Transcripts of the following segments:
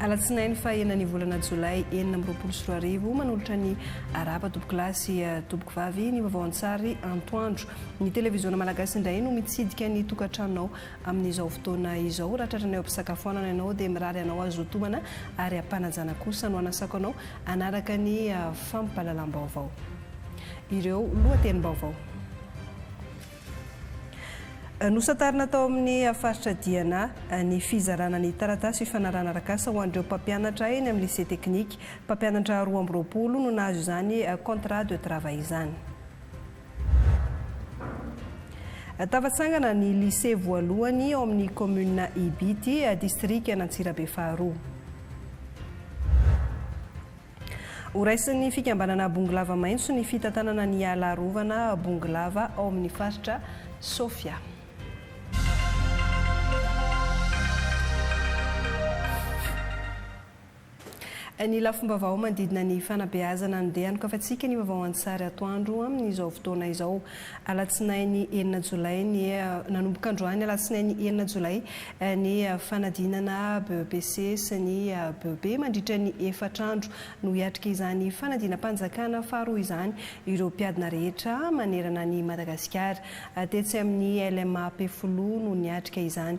Alatsinainy fahaenin'ny volana Jolay enina amby roapolo sy roa arivo, manolotra ny Arahaba Tompokolahy sy Tompokovavy ny vaovao an-tsary antoandro. Ny televiziona malagasy indray no mitsidika ny tokantranonao amin'izao fotoana izao. Raha tratranay eo am-pisakafoanana ianao dia mirary anao hazotomana ary am-panajana kosa no anasako anao hanaraka ny fampahalalam-baovao. Ireo lohatenim-baovao. Nosantarina tao amin'ny faritra Diana ny fizarana ny taratasy fifanarahana arak'asa ho an'ireo mpampianatra eny amin'ny Lycée Technique. Mpampianatra roa amby roapolo no nahazo izany contrat de travail izany. Tafatsangana ny Lycée voalohany ao amin'ny Kaominina Ibity, Distrikan'Antsirabe faharoa. Horaisin'ny fikambanana Bongolava Maitso ny fitantanana ny ala arovana Bongolava ao amin'ny faritra Sofia. Ny lafim-baovao manodidina ny fanabeazana no dia anokafan-tsika ny vaovao an-tsary atoandro amin'izao fotoana izao. Alatsinainy enina Jolay ny Nanomboka androany Alatsinainy enina Jolay ny fanadinana BEPC sy ny BEP mandritra ny efatra andro. No hiatrika izany fanadinam-panjakana faharoa izany ireo mpiadina rehetra manerana an'i Madagasikara. Tetsy amin'ny LMA Ampefiloha no niatrika izany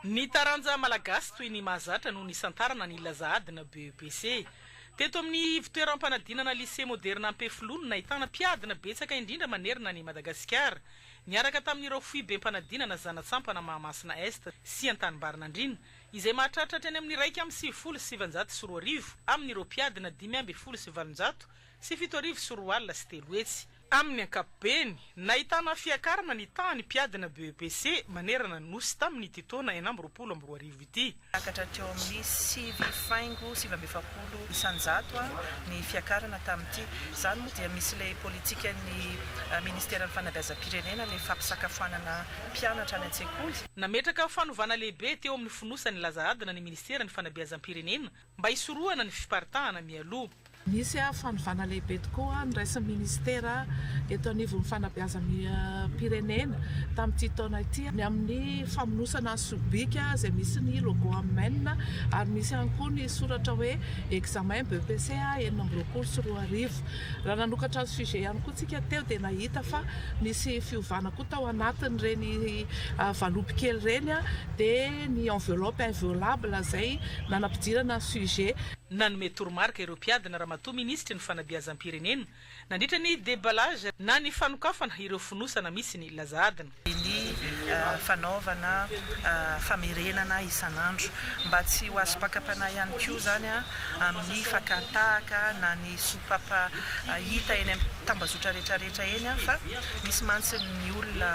Ny taranja malagasy toy ny mahazatra no nisantarana ny Laza Adina BEPC. Teto amin'ny ivontoeram-panadinana Lycée Moderna Ampefiloha no nahitana mpiadina betsaka indrindra manerana an'i Madagasikara, niaraka tamin'ireo foibem-panadinana Zanatsapana Mahamasina Est sy Antanimbarinandriana, izay mahatratra hatrany amin'ny iraika amby sivifolo sy sivinjato sy roa arivo amin'ireo mpiadina dimy ambin'ny folo sy valonjato sy fito arivo sy roa alina sy telo hetsy. Tamin' ny ankapobeny, nahitana fiakarana ny tahan'ny mpiadina BEPC manerana ny Nosy tamin' ity taona enina amby roapolo amby roa arivo ity. Niakatra teo amin'ny sivy faingo sivy amby efapolo isan-jato ny fiakarana tamin'ity. Izany moa dia misy ilay politikan'ny Ministeran'ny Fanabeazam-pirenena, ilay fampisakafoanana mpianatra any an-tsekoly. Nametraka fanovana lehibe teo amin'ny fonosan'ny laza adina ny Ministeran'ny Fanabeazam-pirenena mba hisorohana ny fiparitahana mialoha. Nisy fanovana lehibe tokoa noraisin'ny minisitera eto anivon'ny fanabeazam-pirenena tamin'ity taona ity ny amin'ny famonosana sobika izay misy ny logo Amen ary misy ihany koa ny soratra hoe examen BEPC enina amby roapolo sy roa arivo. Raha nanokatra ny sujet ihany koa isika teo dia nahita fa misy fiovana koa. Tao anatin'ireny valopy kely ireny dia ny enveloppe inviolable izay nanampidirana ny sujet. Nanome toromarika ireo mpiadina Ramatoa Minisitry ny Fanabeazam-pirenena nandritra ny deballage na ny fanokafana ireo fonosana misy ny laza adina. Ny fanaovana famerenana isan'andro mba tsy ho azo pakapanahy ihany koa izany amin'ny fakàn-tahaka na ny. Sopapa hita eny am tambazotra rehetra rehetra eny an fa misy mantsy ny olona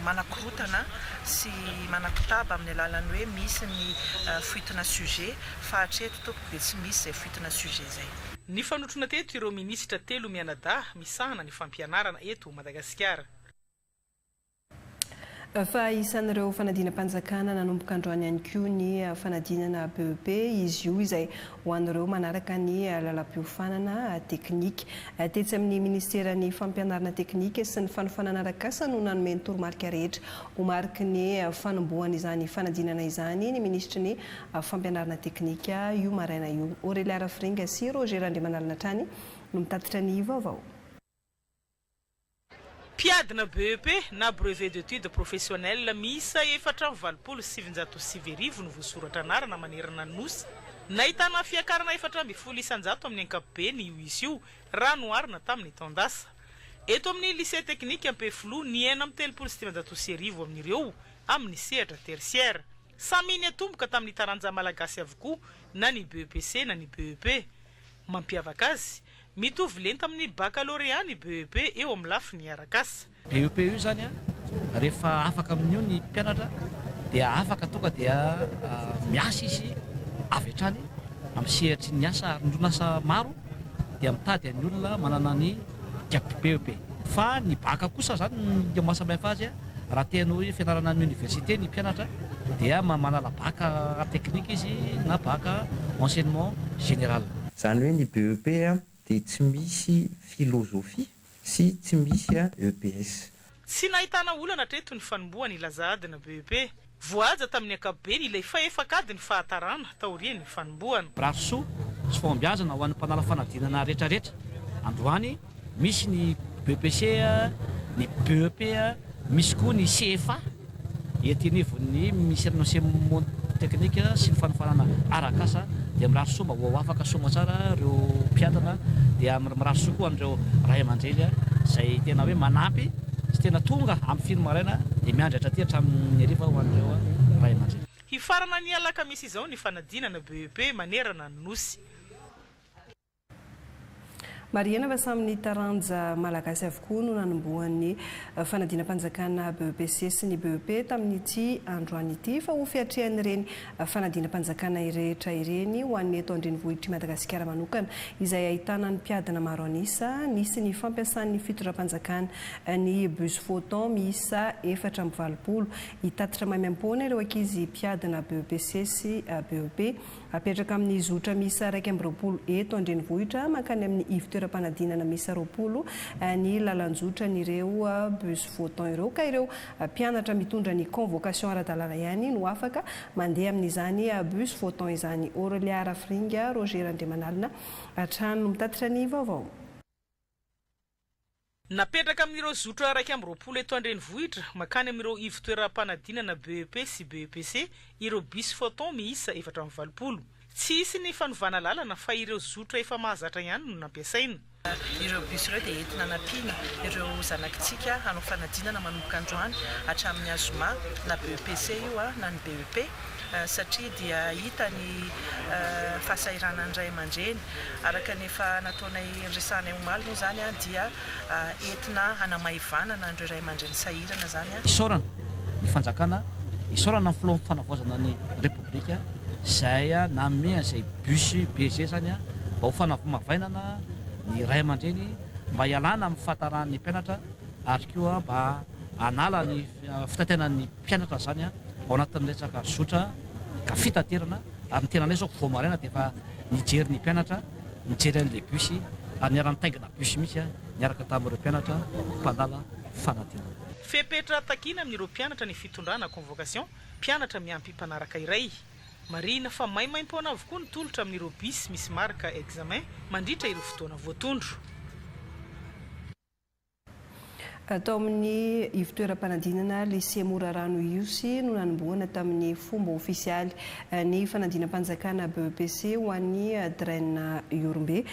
manakorotana sy manakotaba amin'ny alalan'ny hoe misy ny fuite-na sujet fa hatreto tompoko dia tsy misy izay fuite-na sujet izay. Nifanotrona teto ireo minisitra telo mianadahy misahana ny fampianarana eto Madagasikara. Fa isan'ireo fanadinam-panjakana nanomboka androany ihany koa ny fanadinana BEP izy io izay ho an'ireo manaraka ny lalam-piofanana teknika. Tetsy amin'ny Minisiteran'ny Fampianarana teknika sy ny fanofanana arak'asa no nanome ny toromarika rehetra ho mariky ny fanombohan'izany fanadinana izany ny Minisitry ny Fampianarana teknika io maraina io. Aurelia Rafiringa sy Roger Randriamanalina hatrany no mitatitra ny vaovao. Mpiadina BEP na Brevet d'Etudes Professionnelles miisa efatra amby valopolo sy sivinjato sy sivy arivo no voasoratra anarana manerana ny Nosy. Nahitana fiakarana efatra ambin'ny folo isan-jato amin'ny ankapobeny io isa io raha noharina tamin'ny taon-dasa. Eto amin'ny Lycée Teknika Ampefiloha ny enina amby telopolo sy dimanjato sy arivo amin'ireo amin'ny sehatra tertiaire. Samy niatomboka tamin'ny taranja malagasy avokoa na ny BEPC na ny BEP. Mampiavaka azy, mitovy lenta amin'ny bakalorea ny BEP eo amin'ny lafiny arak'asa. BEP io izany an, rehefa afaka amin'io ny mpianatra dia afaka tonga dia miasa izy avy hatrany amin'ny sehatry ny asa ary ny orinasa maro dia mitady ny olona manana ny. Diako be io be. Fa ny bacc kosa zany no maha samihafa azy a, raha te hanao hoe fianarana any université ny mpianatra dia manala bacc art technique izy na bacc enseignement général. Zany hoe ny BEP dia tsy misy philosophie sy tsy misy EPS. Tsy nahitana olana hatreto ny fanombohan' i Lazad na BEP. Voahaja tamin' ny ankapobeny ilay fahefak'ady ny fahatarana taorian' ny fanombohana. Mirary soa sy fahombiazana ho an'ny mpanala fanadinana retraretra. Androany misy ny BEPC, ny BEP, misy koa ny CFA. Ety anivon'ny Minisiteran'ny Enseignement Technique sy ny Fanofanana Arak'asa dia mirary soa mba ho ao afaka soa aman-tsara ireo mpianatra dia mirary soa koa an'ireo Ray aman-dreny izay tena hoe manampy sy tena tonga amin'ny filo maraina dia miandry hatraty hatramin'ny hariva ho an'ireo Ray aman-dreny. Hifarana ny alakamisy izao ny fanadinana BEP manerana ny Nosy. Marihina fa samy ny taranja malagasy avokoa no nanombohan'ny fanadinam-panjakana BEPC sy ny BEP tamin'ity androany ity fa ho fiatrehan'ireny fanadinam-panjakana irehetra ireny ho an'ny eto an-drenivohitr'i Madagasikara manokana izay ahitana ny mpiadina maro an'isa nisy ny fampiasan'ny fitondram-panjakana ny bus photon miisa efatra amby valopolo hitatitra maimaim-poana ireo ankizy mpiadina BEPC sy BEP Apetraka amin'ny zotra miisa iraika amby roapolo eto an-drenivohitra mankany amin'ny ivontoeram-panadinana miisa roapolo ny lalan-jotran'ireo bus votant ireo ka ireo mpianatra mitondra ny convocation ara-dalàna ihany no afaka mandeha amin'izany bus votant izany. Aurelia Rafiringa, Roger Randriamanalina hatrany no mitatitra ny vaovao. Napetraka amin'ireo zotra iraika amby roapolo eto an-drenivohitra mankany amin'ireo ivon-toeram-panadinana BEP sy BEPC ireo bus Photon miisa efatra amby valopolo. Tsy hisy ny fanovana lalana fa ireo zotra efa mahazatra ihany no nampiasaina. Ireo bus ireo dia entina hanampiana ireo zanakitsika hanao fanadinana manomboka androany hatramin'ny Azoma na BEPC io na ny BEP. satria dia hita ny fahasahiranan'ny ray aman-dreny, araka ny efa nataonay niresahanay omaly moa izany dia entina hanamaivanana an'ireo ray aman-dreny sahirana izany. Isaorana ny fanjakana, isaorana ny filoham panavaozana ny repoblika izay nanome an'izay bus be izay izany mba ho fanavmavainana ny ray aman-dreny mba hialana amin'ny fahataran'ny mpianatra ary koa mba hanala ny fitaitainan'ny Mpianatra izany ao anatin'ny resaka zotra ka fitaterana ary ny tenanay izao vao maraina dia efa nijery ny mpianatra nijery an'ilay bus ary niara-nitaingina bus mihitsy niaraka tamin'ireo mpianatra mpandala fanadinana. Fepetra takiana amin'ireo mpianatra ny fitondrana, convocation, mpianatra miampy mpanaraka iray. Marihina fa maimaimpoana avokoa ny tolotra amin'ireo bus misy marika examen mandritra ireo fotoana voatondro. Tao amin'ny ivotoeram-panadinana Lycée Morarano Ihosy no nanombohana tamin'ny fomba ofisialy ny fanadinam-panjakana BEPC ho an'i Dren Ihorombe.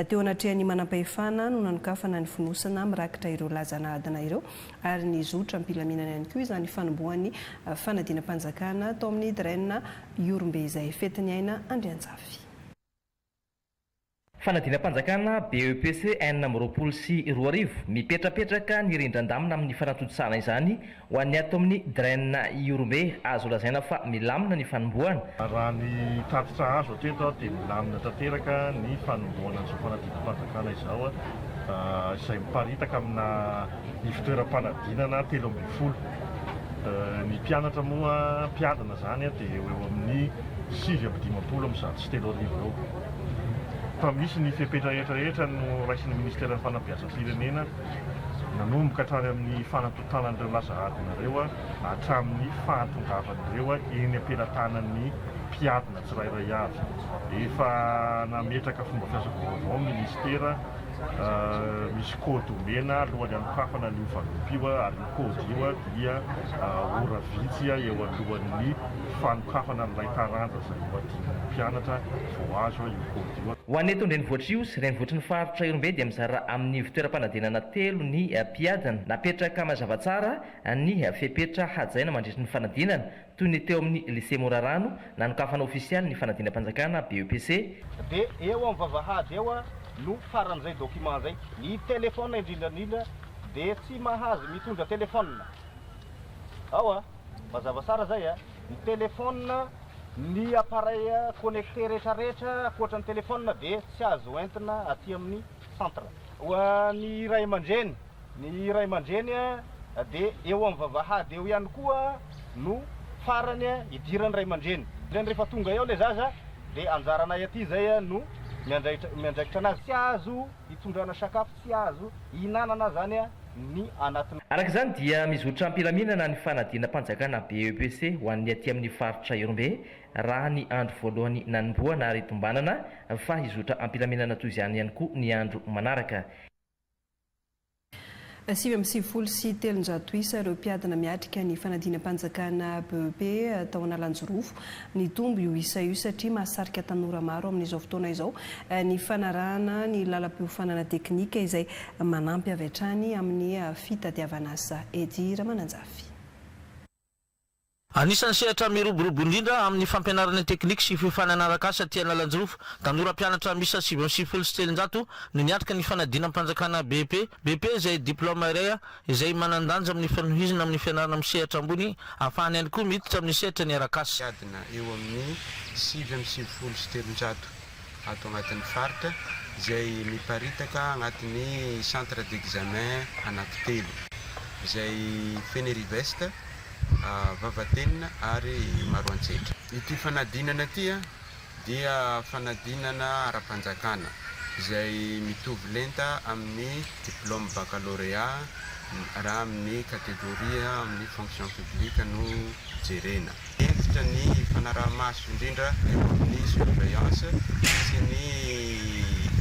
Teo anatrehan'ny manampahefana no nanokafana ny fonosana mirakitra ireo laza nahadana ireo ary nizotra am-pilaminana ihany koa izany fanombohan'ny fanadinam-panjakana tao amin'ny Dren Ihorombe izay fetin'ny aina Andrianjafy. Fanadinam-panjakana BEPC enina amby roapolo sy roa arivo, mipetrapetraka ny rindran-damina amin'ny fanatontosana izany ho an'ny ato amin'ny Dren Ihorombe, azo lazaina fa milamina ny fanombohana. Raha ny tatitra azo hatreto dia milamina tanteraka ny fanombohana an'izao fanadinam-panjakana izao, izay miparitaka amina ivotoeram-panadinana telo ambin'ny folo. Ny mpianatra moa mpiadina izany dia eo eo amin'ny sivy amby dimampolo amin'ny zato sy roa arivo. sy telo arivo eo fa misy ny fepetra rehetra rehetra noraisin'ny Ministeran'ny Fanabeazam-pirenena nanomboka hatrany amin'ny fanantontanan'ireo laza adina ireo hatramin'ny fahatongavan'ireo eny am-pelatanan'ny mpiadina tsirairay avy. Efa nametraka fomba fiasa vaovao ny Ministera, misy kôdy omena alohan'ny hanokafana an'io vanompo io ary io kôdy io dia ora vitsy eo alohan'ny fanokafana an'ilay taranja izay. mpianatra vao azo io code io. Ho an'ny eto an-drenivohitr'io sy renivohitry ny faritra Ihorombe dia mizara amin'ny ivon-toeram-panadinana telo ny mpiadina. Napetraka mazava tsara ny fepetra hajaina mandritry ny fanadinana, toy ny teo amin'ny Lycée Morarano, nanokafana ofisialy ny fanadinam-panjakana, BEPC, Dia eo amin'ny vavahady eo no faran'izay document izay. Ny téléphone indrindra indrindra dia tsy mahazo mitondra téléphone. Ao a! Mazava tsara izay a! Ny téléphone Ny appareil connecté retraretra ankoatra ny telephone dia tsy azo entina aty amin'ny centre. Ho an'ny ray aman-dreny, ny ray aman-dreny dia eo amin'ny vavahady eo ihany koa no farany idiran'ny ray aman-dreny. Zany rehefa tonga eo ilay zaza dia anjaranay aty izay no miandraikitra anazy. Tsy azo itondrana sakafo. tsy azo ihinanana zany ny anaty. Araka izany dia mizotra am-pilaminana ny fanadinam-panjakana BEPC ho an'ny aty amin'ny faritra Ihorombe raha ny andro voalohany nanombohana ary tombanana fa hizotra am-pilaminana toy izany ihany koa ny andro manaraka. Sivy amby sivifolo sy telonjato isa ireo mpiadina miatrika ny fanadinam-panjakana BEP tao Analanjirofo. Nitombo io isa io satria mahasarika tanora maro amin'izao fotoana izao ny fanarahana ny lalam-piofanana teknika izay manampy avy hatrany amin'ny fitadiavan'asa ety Ramananjafy. Anisan'ny sehatra miroborobo indrindra amin'ny fampianarana teknika sy fiofanana arak'asa aty Analanjirofo. Tanora mpianatra miisa sivy amby sivifolo sy telonjato no niatrika ny fanadinam-panjakana BEP, BP izay diplaoma iray, izay manan-danja amin'ny fanohizana amin'ny fianarana amin'ny sehatra ambony ahafahana ihany koa miditra amin'ny sehatra ny arakasa. Miadana eo amin'ny sivy amby sivifolo sy telonjato ato anatin'ny faritra izay miparitaka anatin'ny centre d'examen anankitelo izay Fenerive-Est, Vavatenina ary Maroantsetra. Ity fanadinana ity dia fanadinana ara-panjakana izay mitovy lenta amin'ny diplaoma bakalorea raha amin'ny kategoria amin'ny fonction publique no jerena. Hentitra ny fanaraha-maso indrindra eo amin'ny surveillance sy ny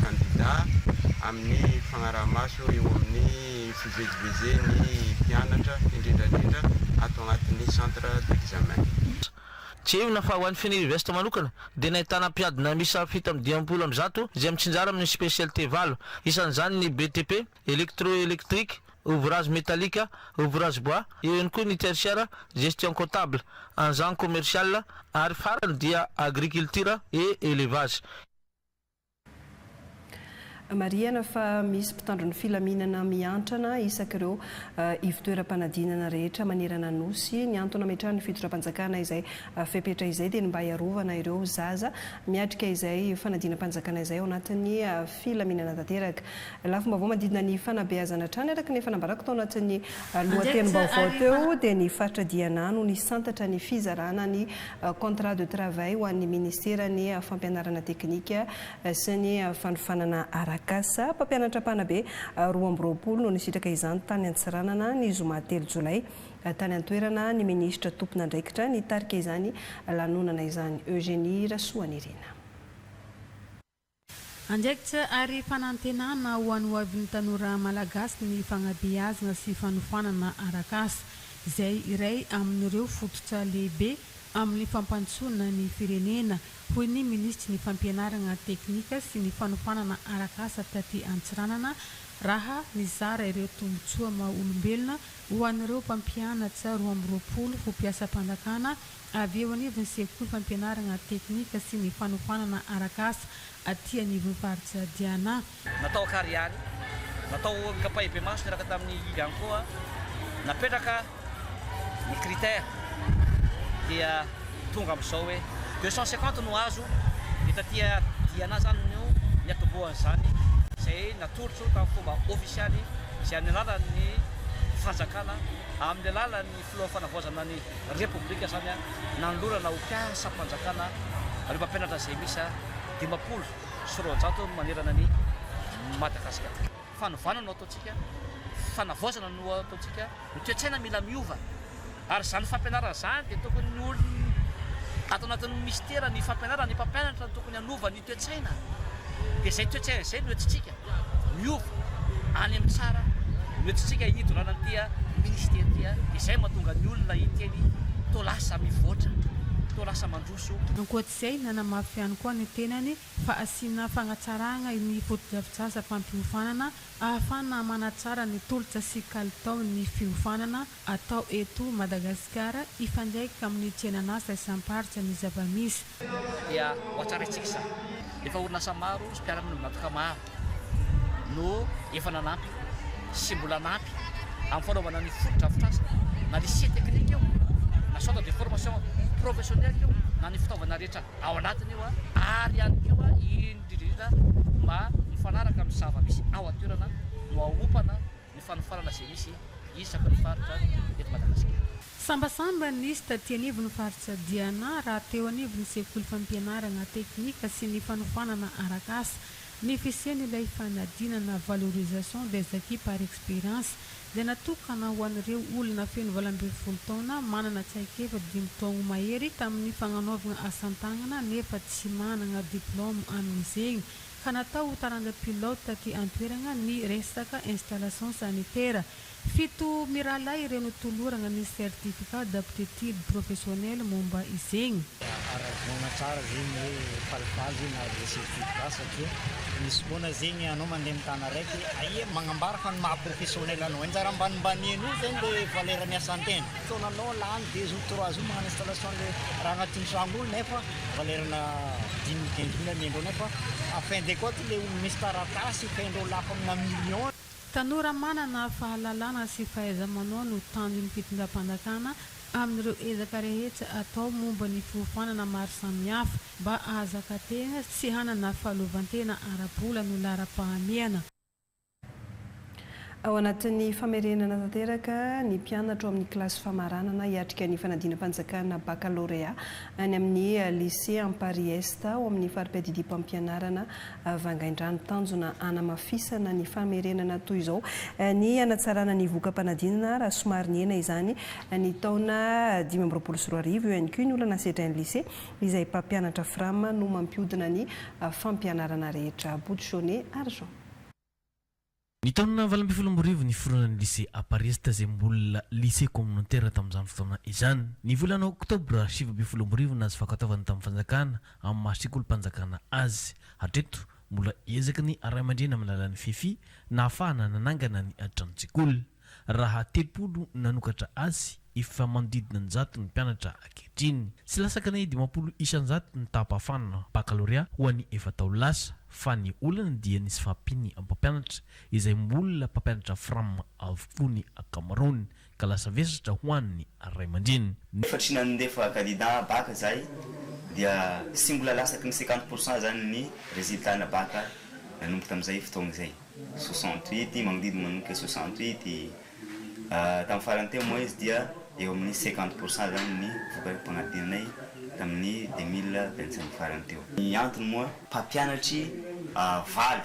kandida amin'ny fagnaraha-maso eo amin'ny fivezivezen'ny mpianatra indrindraindrindra ato agnatin'ny centre d'examen. Tsiahivina fa ho an'ny Fenerivest manokana dia nahitana mpiadina miisa fito amby dimampolo amby zato izay mitsinjara amin'ny specialite valo, isan'izany ny BTP, Electro-Electrique, Ouvrage Metallique, Ouvrage Bois, eo ihany koa ny Tertiaire, Gestion Comptable, Engins Commercial ary farany dia Agriculture et Elevage. Marihana fa misy mpitandro ny filaminana miantrana isaky ireo ivotoeram-panadinana rehetra manerana Nosy. Ny antony nametrahan'ny fitondram-panjakana izay fepetra izay dia ny mba hiarovana ireo zaza miatrika izay fanadinam-panjakana izay ao anatin'ny filaminana tanteraka. Lafim-baovao manodidina ny fanabeazana hatrany araka ny efa nambarako tao anatin'ny lohatenim-baovao teo dia ny faritra Diana no nisantatra ny fizarana ny Contrat de travail ho an'ny Minisiteran'ny Fampianarana Teknika sy ny Fanofanana Arak'asa. Mpampianatra mpanabe roa amby roapolo no nisitraka izany tany Antsiranana ny zoma telo jolay. Tany an-toerana ny Minisitra tompon'andraikitra nitarika izany lanonana izany, Eugénie Rasoanirina. Andraikitra ary fanantenana ho an'ny ho avin'ny tanora Malagasy ny fanabeazana sy fanofanana arak'asa, izay iray amin'ireo fototra lehibe amin'ny fampandrosoana ny firenena, hoy ny Minisitry ny Fampianarana teknika sy ny fanofanana arak'asa taty Antsiranana, raha nizara ireo tombontsoa maha-olombelona ho an'ireo mpampianatra roa amby roapolo ho mpiasam-panjakana avy eo anivon'ny sekoly fampianarana teknika sy ny fanofanana arak'asa aty anivon'ny faritra Diana. Natao an-kariary, natao an-kapaibe-maso niaraka tamin'ny ihany koa napetraka ny critère dia tonga amin'izao hoe deux cent cinquante no azo dia taty Diana izany no niatombohan'izany izay natolotro tamin'ny fomba ofisialy izay amin'ny alalan'ny fanjakana amin'ny alalan'ny Filohan'ny Fanavaozana ny Repoblika izany nanolorana ho mpiasam-panjakana ireo mpampianatra izay miisa dimampolo sy roanjato manerana an'i Madagasikara. Fanovana no ataontsika, fanavaozana no ataontsika, ny toe-tsaina mila miova ary izany fampianarana izany dia tokony ny olona ato anatin'ny Minisitera, ny fampianarana, ny mpampianatra no tokony hanova ny. Toe-tsaina, dia izay toe-tsaina izay no entintsika miova any amin'ny tsara no entintsika hidorana an'ity Minisitera ity, dia izay no mahatonga ny olona hiteny toa lasa mivoatra, toa lasa mandroso. Ankoatr'izay, nanamafy ihany koa ny tenany fa hasiana fanatsarana ny fotodrafitrasa-pampiofanana ahafahana manatsara ny tolotra sy kalitaon'ny fiofanana atao eto Madagasikara hifandraika amin'ny fiainan'asa isam-paritra ny zava-misy. Dia ho hatsaraintsika izany. Efa orinasa maro sy mpiara-monina mivantaka maro no efa nanampy sy mbola hanampy amin'ny fanaovana ny fotodrafitrasa, na lycée technique io, na centre de formation professionnelle io, na ny fitaovana rehetra ao anatiny io, ary ihany koa indrindra indrindra mba mifanaraka amin'ny zava-misy ao an-toerana no haompana. ny fanofanana izay misy isaky ny faritra eto Madagasikara. Sambasamba nisy taty anivon'ny faritra Diana raha teo anivon'ny sekoly fampianarana teknika sy ny fanofanana arak'asa. Ny fisian'ilay fanadinana valorisation des acquis par expérience dia natokana ho an'ireo olona feno valo ambin'ny folo taona manana traikefa dimy taogno mahery tamin'ny fagnanaovagna asan-tagnana nefa tsy managna diplaoma amin'izegny ka natao ho taranja pilote taty an-toerana ny resaka installation sanitaire. Fito mirahalahy ireo notolorana ny certificat d'aptitude professionnelle momba izegny. Aravona tsara zegny hoe falifaly zegny nahazo le certificat satria misy fotoana zegny anao mandeha amin'ny tana araiky aia magnambara fa ny maha professionnel anao anjara ambanimbaniany io zegny le valeur ny asan-tegna fotoananao lany deux jours trois jours magnano installation le raha agnatin'ny tragno io nefa Valerana dimy diandian'ny vola ny endreo nefa à fin de compte le olona misy taratasy efa endreo lafo amina million. Tanora manana fahalalana sy fahaiza-manao no tanjon'ny fitondram-panjakana amin'ireo ezaka rehetra atao momba ny fiofanana maro samihafa mba hahazaka tena sy hanana fahaleovantena ara-bola no laharam-pahamehana. Ao anatin'ny famerenana tanteraka ny mpianatra ao amin'ny kilasy famaranana hiatrika ny fanadinam-panjakana Bakalôrea any amin'ny Lycée Amparihy Est ao amin'ny faripiadidiam-pampianarana Vangaindrano. Tanjona hanamafisana ny famerenana toy izao ny hanatsarana ny voka-panadinana raha somary nihena izany ny taona dimy amby roapolo sy roa arivo. Eo ihany koa ny olana sedrain'ny Lycée izay mpampianatra Fram no mampihodina ny fampianarana rehetra. Bouchonnet, Argent. Ny taona valo ambin'ny folo amby roa arivo niforonan'ny Lycée Aparista izay mbola Lycée Communautaire tamin'izany fotoana izany. Ny volana Oktobra sivy ambin'ny folo amby roa arivo nahazo fankatoavana tamin'ny fanjakana amin'ny maha sekolim-panjakana azy. Hatreto, mbola ezaky ny ray aman-dreny amin'ny alalan'ny Fefi nahafahana nanangana ny tranon-tsekoly. Raha telopolo nanokatra azy, efa manodidina ny zato ny mpianatra ankehitriny. Tsy lasakana ny dimampolo isan-jato ny taham-pahafahana bakalorea ho an'ny efa-taona lasa, fa ny olana dia nisy fahampian'ny mpampianatra, izay mbola mpampianatra fram avokoa ny ankamaroany, ka lasa vesatra ho an'ny ray aman-dreny. Efa tsy nandefa kandida baka izahay, dia tsy mbola lasaky ny cinquante pour cent izany ny résultat-na baka nanomboka tamin'izay fotoana izay. soixante huit magnodidy manomboka soixante huit tamin'ny farany teo moa izy dia eo amin'ny cinquante pour cent zany ny vokatra mpagnadinanay tamin'ny deux mille vingt cinq farany teo. Ny antony moa mpampianatry valo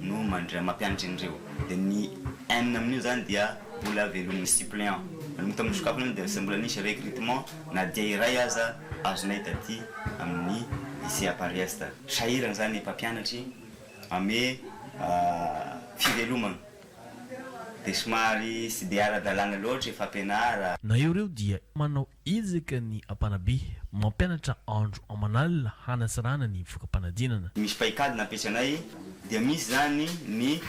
no mandray mampianatra an'ireo dia ny enina amin'io zany dia mbola velomin'ny suppléant nanomboka tamin'ny sokafana iny dia tsy mbola nisy recrutement na dia iray aza azonay taty amin'ny lycée Apariesta sahirana zany ny mpampianatry ame fivelomana dia somary tsy dia ara-dalàna loatra e fampianara. Na eo reo dia manao ezaka ny mpanabe mampianatra andro aman'alina hanasarahana ny voka-panadinana. Misy paikady nampiasa anay dia misy izany ny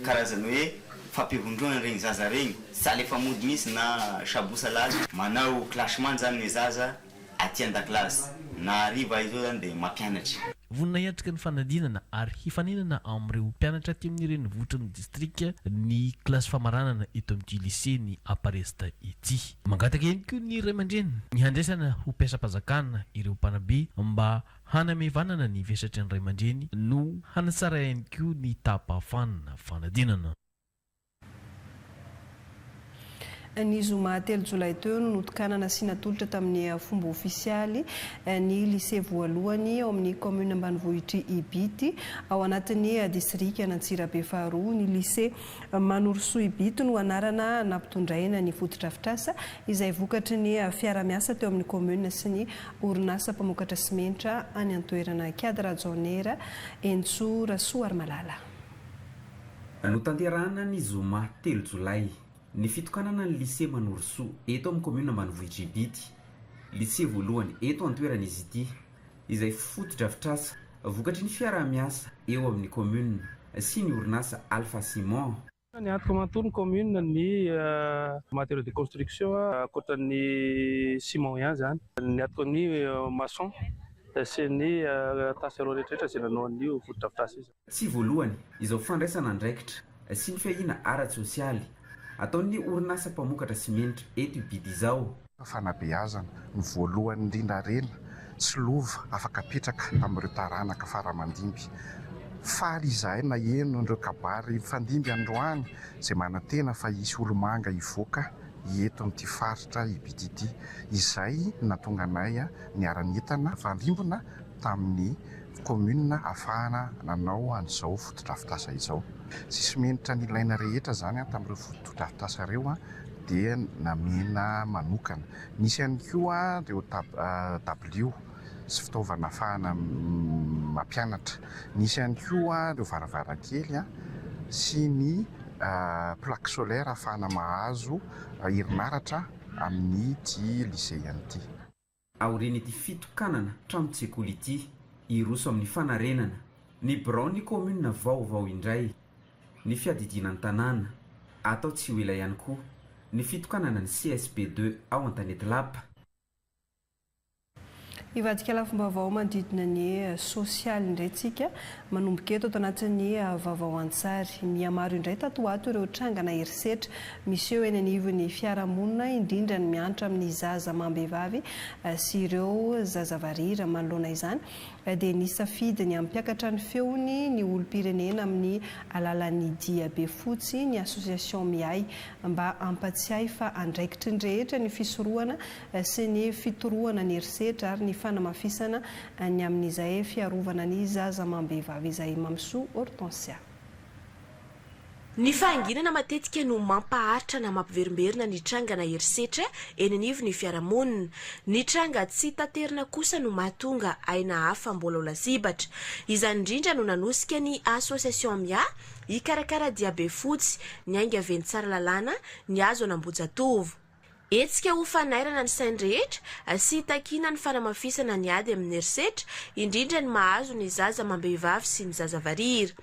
karazany hoe fampivondronana regny zaza regny, salle efa mody misy na sabo salady. Manao classement zany ny zaza aty an-dakilasy na hariva izao izany dia mampianatra. Vonona hiatrika ny fanadinana ary hifaninana amin'ireo mpianatra aty amin'ny renivohitry ny distrika ny kilasy famaranana eto amin'ity Lycée ny Aparest ity. Mangataka ihany koa ny ray aman-dreny ny handraisana ho mpiasam-panjakana ireo mpanabe mba hanamevanana ny vesatry ny ray aman-dreny no hanatsara ihany koa ny taham-pahafanina fanadinana. Ny zoma telo jolay teo no notokanana sy natolotra tamin'ny fomba ofisialy ny Lycée voalohany ao amin'ny Kaominina ambanivohitr'i Ibity, ao anatin'ny Distrikan'Antsirabe faharoa. Ny Lycée Manorisoa Ibity no anarana nampitondraina ny fotodrafitrasa, izay vokatry ny fiara-miasa teo amin'ny Kaominina sy ny orinasa mpamokatra simenitra any an-toerana, Kiady Rajaonera, Henintsoa Rasoarimalala. Notanterahina ny zoma telo jolay, ny fitokanana ny Lycée Manorisoa eto amin'ny kaominina ambanivohitr'i Ibity. Lycée voalohany eto an-toerana izy ity, izay fotodrafitrasa vokatry ny fiaraha-miasa eo amin'ny kaominina sy ny orinasa Alpha Ciment. Niantoka manontolo ny kaominina ny matériaux de construction, ankoatra ny ciment ihany izany. Niantoka ny maçon sy ny tafika ireo rehetra rehetra izay nanao an'io fotodrafitrasa io izany. Tsy voalohany izao fandraisana andraikitra sy ny fiahiana ara-tsosialy ataon'ny orinasa mpamokatra simenitra eto i Bidi izao. Fanabeazana no voalohany indrindra harena sy lova afaka apetraka amin'ireo taranaka fara aman-dimby. Faly izahay naheno ireo kabary hifandimby androany izay manantena fa hisy olomanga hivoaka eto amin'ity faritra i Bidi ity, izay nahatonga anay niara-nientana nifandrimbona. tamin'ny kaominina ahafahana nanao an'izao fotodrafitrasa izao. Tsisy menitra ny ilaina rehetra izany tamin'ireo fotodrafitrasa ireo dia namena manokana. Nisy ihany koa ireo dabilio sy fitaovana ahafahana mampianatra. Nisy ihany koa ireo varavarankely sy ny plaque solaire ahafahana mahazo herinaratra amin'ity lisea ity. Aorian'ity fitokanana tranon-tsekoly ity, hiroso amin'ny fanarenana ny biraon'ny kaominina vaovao indray ny fiadidiana ny tanàna. Atao tsy ho ela ihany koa ny fitokanana ny CSP deux ao Antanety Lapa. Hivadika lafim-baovao manodidina ny sosialy indray tsika Manomboka eto, ato anatin'ny vaovao an-tsary. Mihamaro indray tato ho ato ireo trangana herisetra miseho eny anivon'ny fiarahamonina, indrindra ny miantra amin'ny zaza amam-behivavy sy ireo zaza varira. Manoloana izany, dia nisafidy ny hampiakatra ny feony ny olom-pirenena amin'ny alalan'ny diabe fotsy ny Association Miahy, mba hampatsiahy fa andraikitry ny rehetra ny fisorohana sy ny fitorohana ny herisetra ary ny fanamafisana ny amin'izay fiarovana ny zaza amam-behivavy izay Mamisoa Hortensia. Ny fahanginana matetika no mampaharitra na mampiverimberina ny trangana herisetra eny anivon'ny fiarahamonina. Ny tranga tsy taterina kosa no mahatonga aina hafa mbola ho lasibatra. Izany indrindra no nanosika ny Association Mia hikarakara diabe fotsy, niainga venty tsara lalàna, ny hazo an'Ambohijatovo. Hetsika ho fanairana ny sain'ny rehetra sy hitakiana ny fanamafisana ny ady amin'ny herisetra, indrindra ny mahazo ny zaza amam-behivavy sy ny zaza varira.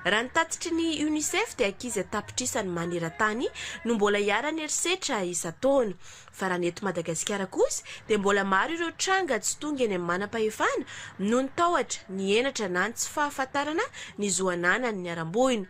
Raha ny tatitry ny Unicef dia ankizy an-tapitrisany maneran-tany no mbola iharan'ny herisetra isan-taona. Fa raha ny eto Madagasikara kosa dia mbola maro ireo tranga tsy tonga eny amin'ny manam-pahefana noho ny tahotra, ny henatra na ny tsy fahafantarana ny zo ananan'ny niharam-boina.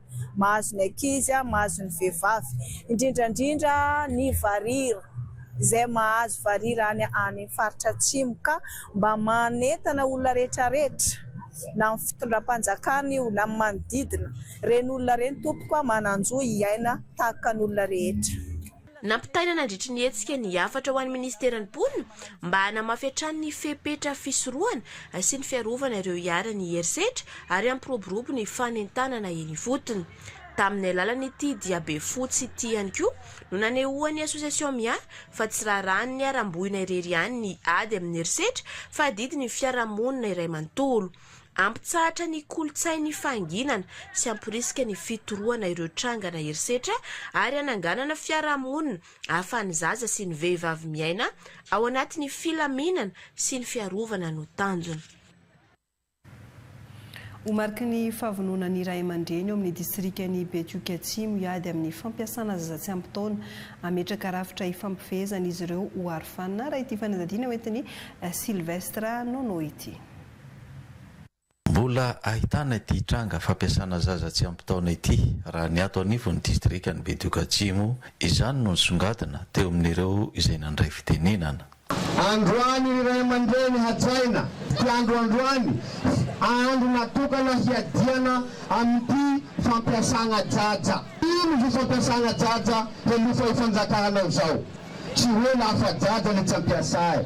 Mahazo ny ankizy, mahazo ny vehivavy, indrindra indrindra ny varira, izay mahazo varira any amin'ny faritra atsimo ka mba manentana olona rehetra rehetra na amin'ny fitondram-panjakana io na amin'ny manodidina, ireny olona ireny tompoko manan-jo hiaina tahaka ny olona rehetra. Nampitaina nandritry ny hetsika ny hafatra ho an'ny Ministeran'ny Mponina mba hanamafy hatrany ny fepetra fisorohana sy ny fiarovana ireo iharan'ny herisetra ary hampiroborobo ny fanentanana eny ifotony. Tamin'ny alalan'ity diabe fotsy ity ihany koa no nanehoan'ny Association Mia fa tsy raharahan'ny niharam-boina irery ihany ny ady amin'ny herisetra fa adidin'ny fiarahamonina iray manontolo. Hampitsahatra ny kolontsain'ny fahanginana sy hamporisika ny fitorohana ireo trangana herisetra ary hananganana fiarahamonina ahafahan'ny zaza sy ny vehivavy miaina ao anatin'ny filaminana sy ny fiarovana no tanjona. Ho mariky ny fahavononan'ny ray aman-dreny ao amin'ny distrikan'i Betioky Atsimo hiady amin'ny fampiasana zaza tsy ampy taona, hametraka rafitra hifampifehezan'izy ireo ho arofanina, raha ity fanadihadiana hoentin'i Sylvestre Nono ity. Mbola ahitana ity tranga fampiasana zaza tsy ampy taona ity raha ny ato anivon'ny distrikan'i Bedoka Atsimo, izany no nisongadina teo amin'ireo izay nandray fitenenana. Androany ny ray aman-dreny hajaina ity andro androany fa andro natokana hiadiana amin'ity fampiasana jaja. Ino io fampiasana jaja helofa ifanjakanao zao? Tsy hoe lafa jaja le tsy ampiasa eh!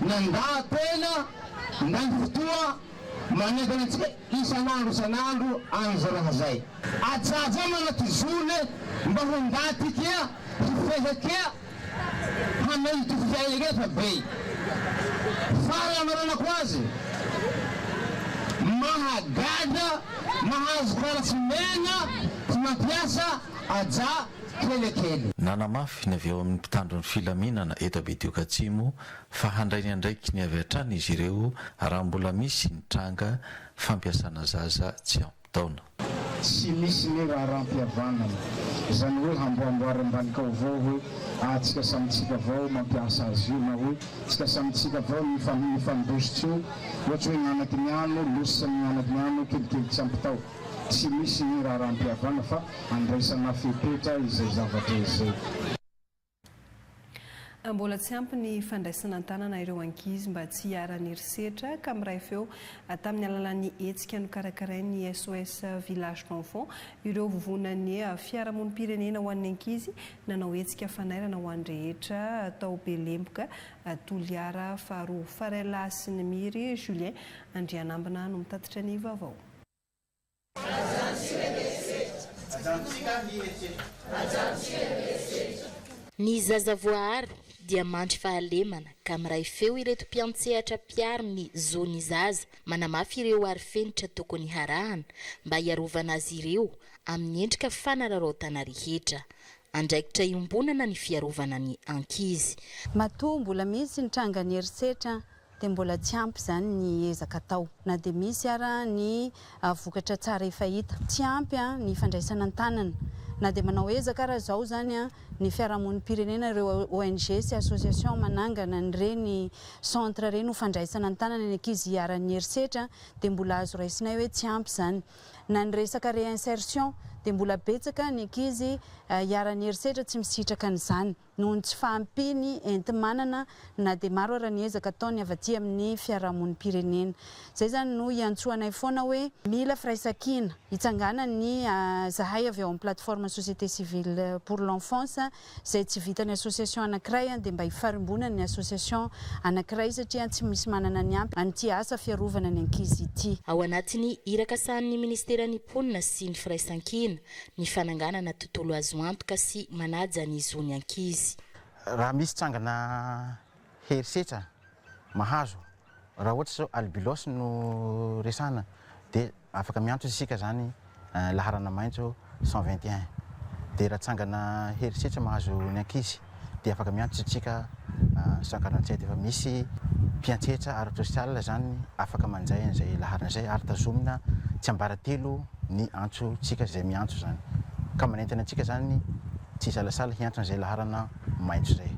Mandaha-tena ny fotoa manentana antsika isan'andro isan'andro an'izay raha izay. Ajaja manaty zone mba ho ndaty kea hifehy kea hameno ty fiaina kea fa vey fara hamaranako azy mahagaga mahazo fara tsy mena tsy mampiasa aja kelikely. Nanamafy ny avy ao amin'ny mpitandro ny filaminana eto Abetioka Atsimo fa handray ny andraikiny avy hatrany izy ireo raha mbola misy ny tranga fampiasana zaza tsy ampy taona. Tsy misy ny raharaham-pihavanana, izany hoe hamboamboary ambanin-kaovao hoe ah tsika samy tsika vao mampiasa azy io na hoe tsika samy tsika vao ny mifandositra io, ohatra hoe ny anaky ny ano, losa ny anaky ny ano, kelikely tsy ampy tao. Tsy misy raharaham-pihavana fa andraisana fepetra izay zavatra izay. Mbola tsy ampy ny fandraisana an-tanana ireo ankizy mba tsy hiharan'ny herisetra ka miray feo tamin'ny alalan'ny hetsika nokarakarain'ny SOS Village d'Enfants ireo vovonan'ny fiarahamonim-pirenena ho an'ny ankizy nanao hetsika fanairana ho an'ny rehetra tao Belemboka Toliara faharoa. Farella Asinimiry Julien Andrianambina no mitatitra ny vaovao. Ny zaza voaaro dia mandry fahalemana ka miray feo ireto mpiantsehatra mpiaro ny zo ny zaza manamafy ireo arifenitra tokony harahana mba hiarovana azy ireo amin'ny endrika fanararaotana rehetra. Andraikitra iombonana ny fiarovana ny ankizy. Matoa mbola misy ny trangan'ny herisetra dia mbola tsy ampy izany ny ezaka atao na dia misy ara ny vokatra tsara efa hita. Tsy ampy ny fandraisana an-tanana na dia manao ezaka ara izao izany ny fiarahamonim-pirenena, ireo ONG sy association manangana an'ireny centre ireny ho fandraisana an-tanana ny ankizy iharan'ny herisetra dia mbola azo raisinay hoe tsy ampy izany. Na ny resaka réinsertion dia mbola betsaka ny ankizy iharan'ny herisetra tsy misitraka an'izany. noho ny tsy fahampiany enti-manana na dia maro ara ny ezaka ataony avy aty amin'ny fiarahamonim-pirenena. Izay izany no iantsoanay foana hoe mila firaisankina hitsanganan'ny zahay avy ao amin'ny plateforme société civile pour l'enfance izay tsy vitan'ny association anankiray dia mba hifarimbonan'ny association anankiray satria tsy misy manana ny ampy amin'ity asa fiarovana ny ankizy ity. Ao anatin'ny iraka sahanin'ny ministeran'ny mponina sy ny firaisankina, ny fananganana tontolo azo antoka sy manaja ny zon'ny ankizy. Raha misy tsangana herisetra mahazo, raha ohatra izao albilos no resahana dia afaka miantso isika izany laharana maitso cent vingt et un dia raha tsangana herisetra mahazo ny ankizy, dia afaka miantso antsika sanganantsay dia efa misy mpiantsehetsa ara-tsosialy izany afaka manjay an'izay laharana izay ary tazomina tsy ambaratelo ny antsotsika izay miantso izany ka manentana antsika izany tsy hisalasala hiantso an'izay laharana maitso izay.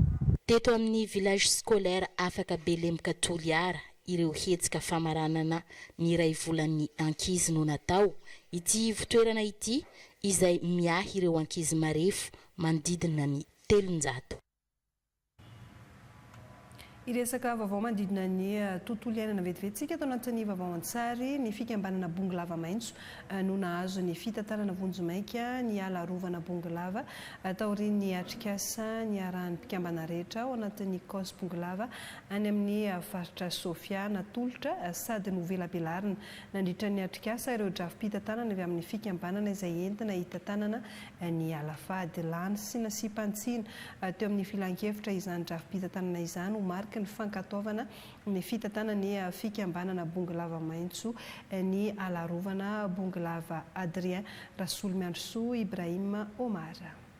Teto amin'ny Village Scolaire Afaka Belemboka Toliara, ireo hetsika famaranana ny iray volan'ny ankizy no natao. Ity ivotoerana ity izay miahy ireo ankizy marefo manodidina ny telonjato. Hiresaka vaovao manodidina ny tontolo iainana vetivetintsika ato anatin'ny Vaovao an-tsary. Ny fikambanana Bongolava Maitso no nahazo ny fitantanana vonjimaika ny ala arovana Bongolava taorian'ny atrikasa niarahan'ny mpikambana rehetra ao anatin'ny Cos Bongolava any amin'ny faritra Sofia natolotra sady novelabelarina Nandritra ny atrikasa, ireo drafi-pitantanana avy amin'ny fikambanana izay entina hitantanana ny ala fady, lany sy nasiam-pantsina teo amin'ny filankevitra izany drafi-pitantanana izany ho mariky ny fankatoavana ny fitantanan'ny fikambanana Bongolava Maitso ny ala arovana Bongolava Adrien Rasolimiandrisoa Ibrahim Omar.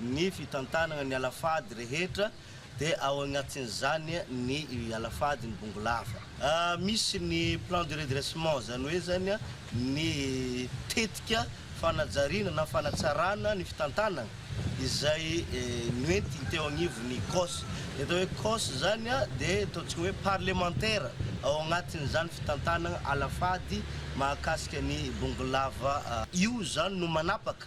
ny fitantanana ny alafady rehetra dia ao agnatin'izany ny alafady ny bongolava. Misy ny plan de redressement zany hoe zany ny tetika fanajariana na fanatsarana ny fitantanana izay noentiny teo agnivon'ny cos. Ny atao hoe cos zany dia ataontsika hoe parlemantera ao agnatin'izany fitantanana alafady mahakasika ny bongolava. Io zany no manapaka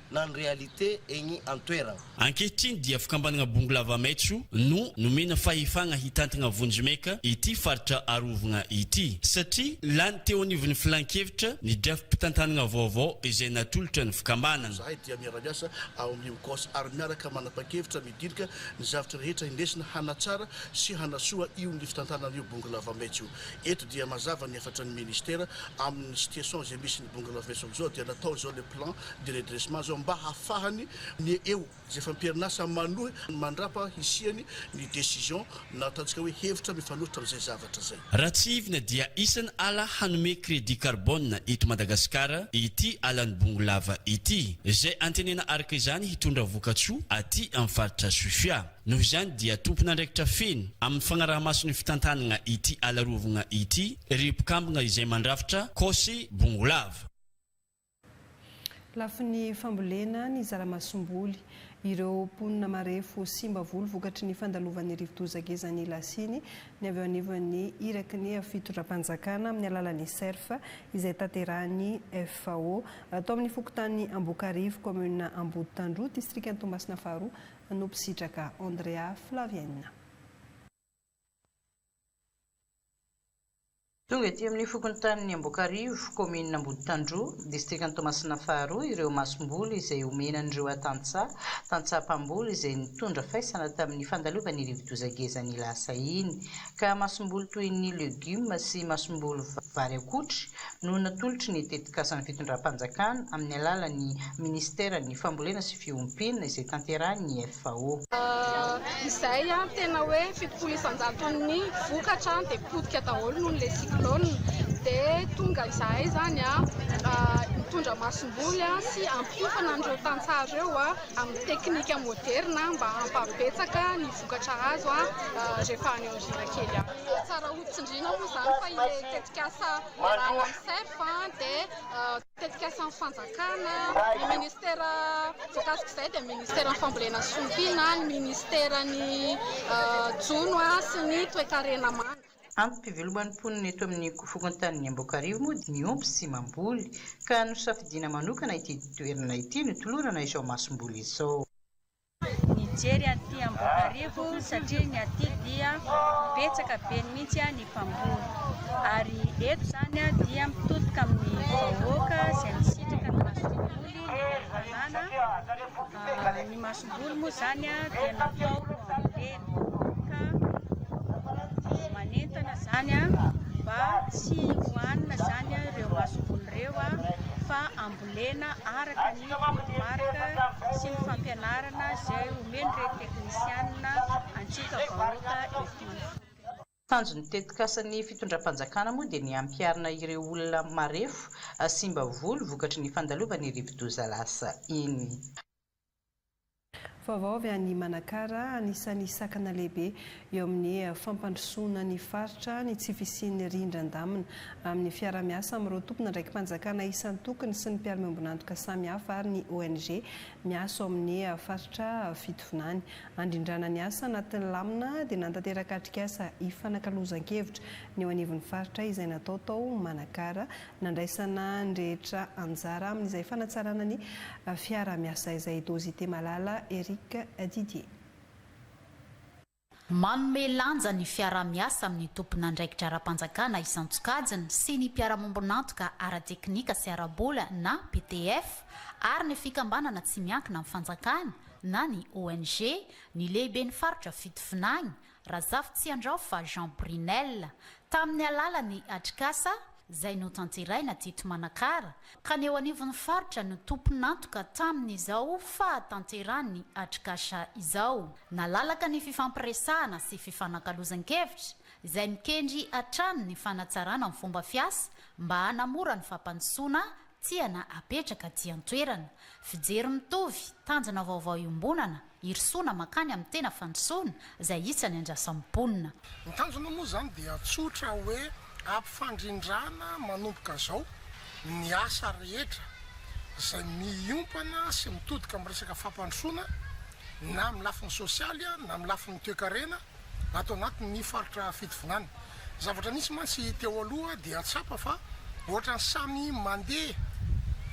na ny réalité egny an-toeragna. Ankehitriny dia fikambanagna Bongo Lava Maitso no nomena fahefagna hitantagna vonjimeka ity faritra arovagna ity satria lany teo anivon'ny filan-kevitra ny drafi-pitantanagna vaovao izay natolotra ny fikambanagna. Zahay dia miara-miasa ao amin'ny UCOS ary miaraka manapa-kevitra midilika ny zavatra rehetra indesina hanatsara sy hanasoa io ny fitantanana io Bongo Lava Maitso io. Eto dia mazava ny hafatry ny Ministera amin'ny situation izay misy ny Bongo Lava Maitso amin'izao dia natao izao le plan de redressement zao mba hafahany ny eo izay efa am-perinasa manohy mandrapa hisiany ny decision na ataontsika hoe hevitra mifanohitra amin'izay zavatra izay. Raha tsihivina dia isany ala hanome crédit carbone eto Madagasikara ity alan'i Bongolava ity izay antenena araka izany hitondra vokatsoa aty amin'ny faritra Sofia. Noho izany dia tompon'andraikitra feno amin'ny fagnarahamaso ny fitantanagna ity ala arovagna ity ry mpikambagna izay mandrafitra Cose Bongolava. Lafiny fambolena ny zara-masomboly. Ireo mponina marefo simba volo vokatry ny fandalovan'ny rivodoza Gezani Lasiny ny avy eo anivon'ny iraky ny fitondram-panjakana amin'ny alalan'ny Cerf izay tanterahin'ny FAO. Tao amin'ny fokontany Ambokarivo, kaominina Amboditandroy, distrikan'i Toamasina faharoa no mpisitraka. Andrea Flaviaina. Tonga ety amin'ny fokontanin'i Amboakarivo, kaominina Amboditandroa, distrikan'i Toamasina faharoa ireo masomboly izay homena an'ireo atantsaha, tantsaha mpamboly izay nitondra faisana tamin'ny fandalovan'ny rivodoza ngeza ny lasa iny, ka masomboly toy ny legioma sy masomboly vary akotry, no natolotry ny tetikasan'ny fitondram-panjakana amin'ny alalan'ny minisiteran'ny Fambolena sy Fiompiana izay tanterahin'ny FAO. Izay tena hoe fitopolo isan-jaton'ny vokatra dia potika daholo noho ilay cyclone. Dia tonga izahay izany mitondra masomboly sy hampiofana an'ireo tantsaha ireo amin'ny teknika moderina mba hampabetsaka ny vokatra azo rehefa any aoriana kely any. Tsara hotsindriana moa izany fa ilay tetikasa Ralmsef dia tetikasan'ny fanjakana, ny ministera voakasik'izay dia ministeran'ny fambolena sy fiompiana, ny ministeran'ny jono sy ny toekarena manga. Antom-piveloman'ny mponina eto amin'ny fokontanin'i Amboakarivo moa dia miompy sy mamboly ka nosafidiana manokana ity toerana ity notolorana izao masomboly izao. Nijery aty Ambohibarivo satria ny aty dia betsaka be mihitsy ny mpamboly ary eto izany dia mitodika amin'ny vahoaka izay misitraka ny masomboly ny tanàna. Ny masomboly moa izany dia natao hambolena ka manentana izany mba tsy hohanina izany ireo masomboly ireo fa ambolenay. Volena araka ny toromarika sy ny fampianarana izay omen'ireny teknisianina antsika vahoaka ity. Tanjon'ny tetikasan'ny fitondram-panjakana moa dia ny hampiharina ireo olona marefo, simba volo vokatry ny fandalovan'ny rivodoza lasa iny. Vaovao avy any Manakara, Anisan'ny sakana lehibe eo amin'ny fampandrosoana ny faritra ny tsy fisian'ny rindran-damina. Amin'ny fiarahamiasa amin'ireo tompon'andraiki-panjakana isan-tokony sy ny mpiara-miombon'antoka samihafa ary ny ONG miasa ao amin'ny faritra fitovinany handrindrana ny asa anatin'ny lamina dia nantanteraka atrikasa ifanakalozan-kevitra ny eo anivon'ny faritra izay natao tao Manakara Nandraisana ny rehetra anjara amin'izay fanatsarana ny fiaraha-miasa izay Dozy Temalala Eric Didier. Manome lanja ny fiaraha-miasa amin'ny tompon'andraikitra ara-panjakana isan-tsokajiny sy ny mpiara-miombon'antoka ara-teknika sy ara-bola na PTF ary ny fikambanana tsy miankina amin'ny fanjakana na ny ONG ny lehiben'ny faritra Fitovinany Razafitsiandrao fa Jean Brinel, tamin'ny alalan'ny atrikasa izay notanteraina teto Manakara, ka ny eo anivon'ny faritra no tompon'antoka tamin'izao fahatanterahan'ny atrikasa izao. Nalalaka ny fifampiresahana sy fifanakalozan-kevitra, izay mikendry hatrany ny fanatsarana ny fomba fiasa mba hanamora ny fampandrosoana Tsia na apetraka aty an-toerana. Fijery mitovy, tanjona vaovao iombonana, irosoana mankany amin'ny tena fandrosoana, izay isany andrasan'ny mponina. Ny tanjona moa izany dia tsotra hoe ampifandrindrana manomboka izao ny asa rehetra izay miompana sy mitodika amin'ny resaka fampandrosoana na amin'ny lafiny sosialy na amin'ny lafiny toekarena ato anatin' ny faritra fitovinany. Ny zavatra nisy mantsy teo aloha dia tsapa fa ohatrany samy mandeha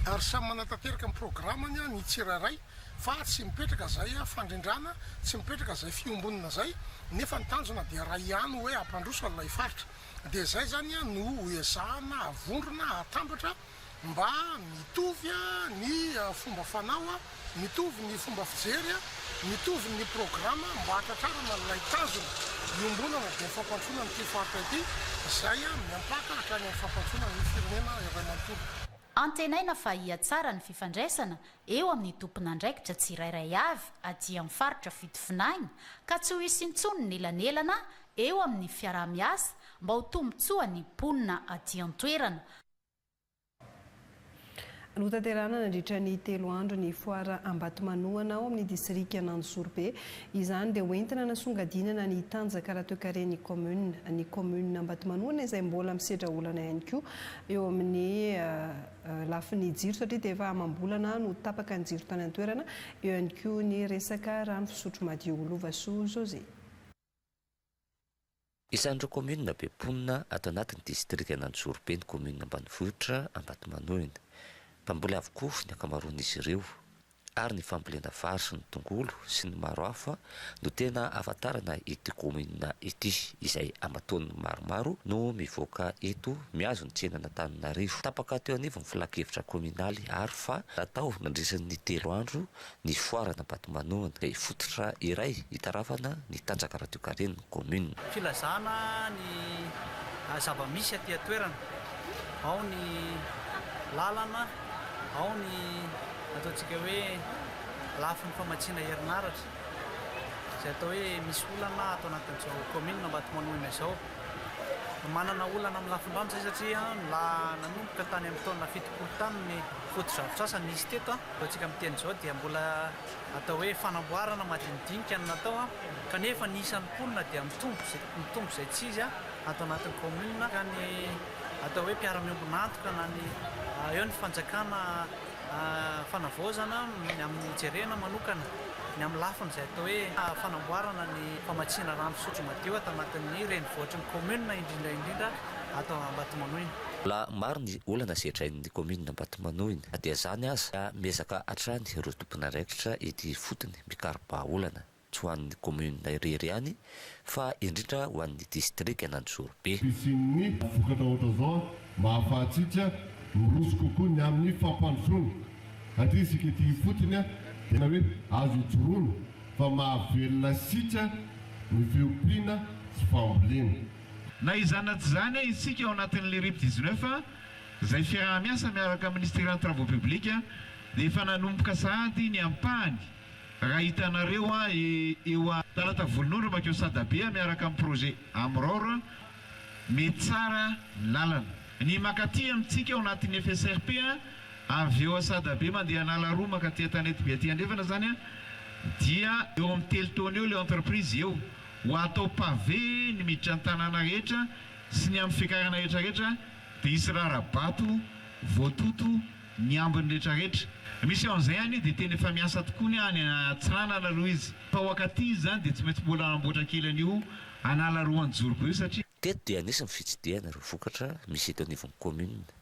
ary samy manatanteraka ny programany ny tsirairay fa tsy mipetraka izay fandrindrana, tsy mipetraka izay fiombonana izay nefa ny tanjona dia raha ihany hoe hampandroso an'ilay faritra. Dia izay izany no hoezahana havondrona hatambatra Mba mitovy a ny fomba fanao a, mitovy ny fomba fijery a, mitovy ny programa mba hahatratrarana an'ilay tanjona iombonana dia ny fampandrosoana an'ity faritra ity izay a miampaka hatrany amin'ny fampandrosoana ny firenena iray manontolo. Antenaina fa hihatsara ny fifandraisana eo amin'ny tompon'andraikitra tsirairay avy aty amin'ny faritra fitovinagna ka tsy ho hisy intsony ny elanelana eo amin'ny fiaraha-miasa mba ho tombontsoa ny mponina aty an-toerana, Notanterahina nandritra ny telo andro ny foara Ambatomanohana ao amin'ny distrikan'Anjozorobe. Izany dia hoentina hanasongadinana ny tanjaka ara-toekaren'ny kaominina. Ny kaominina Ambatomanohana izay mbola misedra olana ihany koa eo amin'ny lafiny jiro satria dia efa amam-bolana no tapaka ny jiro tany an-toerana. Eo ihany koa ny resaka rano fisotro madio. Lovasoa José. Isan'ireo kaominina be mponina ato anatin'ny distrikan'Antsorobe ny kaominina ambanivohitra Ambatomanoina. Mpamboly avokoa ny ankamaroan'izy ireo, ary ny fambolena vary sy ny tongolo sy ny maro hafa no tena ahafantarana ity kaominina ity, izay aman-taoniny maromaro no mivoaka eto mihazo ny tsenan'Antananarivo. Tapaka teo anivon'ny filankevitra kaominaly àry fa natao nandritra ny telo andro Nifoara an'Ambatomanohana dia fototra iray hitarafana ny tanjaka radiokaren'ny kaominina. Filazana ny zava-misy aty an-toerana, ao ny lalana, ao ny ataontsika hoe lafiny famatsiana herinaratra izay atao hoe misy olana ato anatin'izao kaominina Ambatomanohina izao. Manana olana amin'ny lafin-drano izay satria nanomboka tany amin'ny taona fitopolo tany ny fotodrafitrasa nisy teto. Raha isika amin'ny teny izao dia mbola atao hoe fanamboarana madinidinika no natao kanefa ny isan'ny mponina dia mitombo mitombo izay tsy izy ato anatin'ny commune ka ny atao hoe mpiara-miombon'antoka na ny eo ny fanjakana fanavaozana ny amin'ny jerena manokana ny amin'ny lafiny izay atao hoe fanamboarana ny famatsiana rano fisotro madio ato anatin'ny renivohitry ny commune indrindra indrindra ato Ambatomanoina. Mbola maro ny olana sedrain'ny commune Ambatomanoina. Manohina na dia izany aza ka miezaka hatrany ireo tompon'andraikitra ety ifotony mikaro-bahaolana, tsy ho an'ny kaominina irery ihany fa indrindra ho an'ny distrikan'Anjorobe. Fisian'ny vokatra ohatra izao mba hahafahantsika miroso kokoa ny amin'ny fampandrosoana satria isika ety ifotony dia tena hoe azo ijoroana fa mahavelona antsika ny fiompiana sy fambolena. Na izany na tsy izany, isika ao anatin'ny Lerip dix-neuf izay fiaraha-miasa miaraka amin'ny Ministeran'ny Travaux Publics dia efa nanomboka sahady ny ampahany raha hitanareo eo a. Talata volonondry mankeo Sadabe miaraka amin'ny projet Amror mety tsara ny lalana. Ny makaty amintsika ao anatin'ny FSRP avy eo a Sadabe mandeha Analarroa makaty Antanetibe aty andrefana izany a dia eo amin'ny telo taona eo ilay entreprise eo ho atao pavé ny miditra ny tanàna rehetra sy ny amin'ny fiakarana rehetrarehetra dia hisy rara-bato voatoto ny ambiny rehetrarehetra. Misy eo an'izay anie dia tena efa miasa tokoa ny any Antsiranana aloha izy. Tao Ankatỳ izy izany dia tsy maintsy mbola hanamboatra kely an'io an'ala Roanjoro be io satria. Teto dia nisy ny fitsidihana ireo vokatra misy eto anivon'ny kaominina.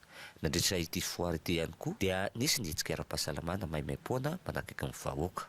Nandritra ity foara ity ihany koa dia nisy ny hetsika ara-pahasalamana maimaim-poana manakaiky ny vahoaka.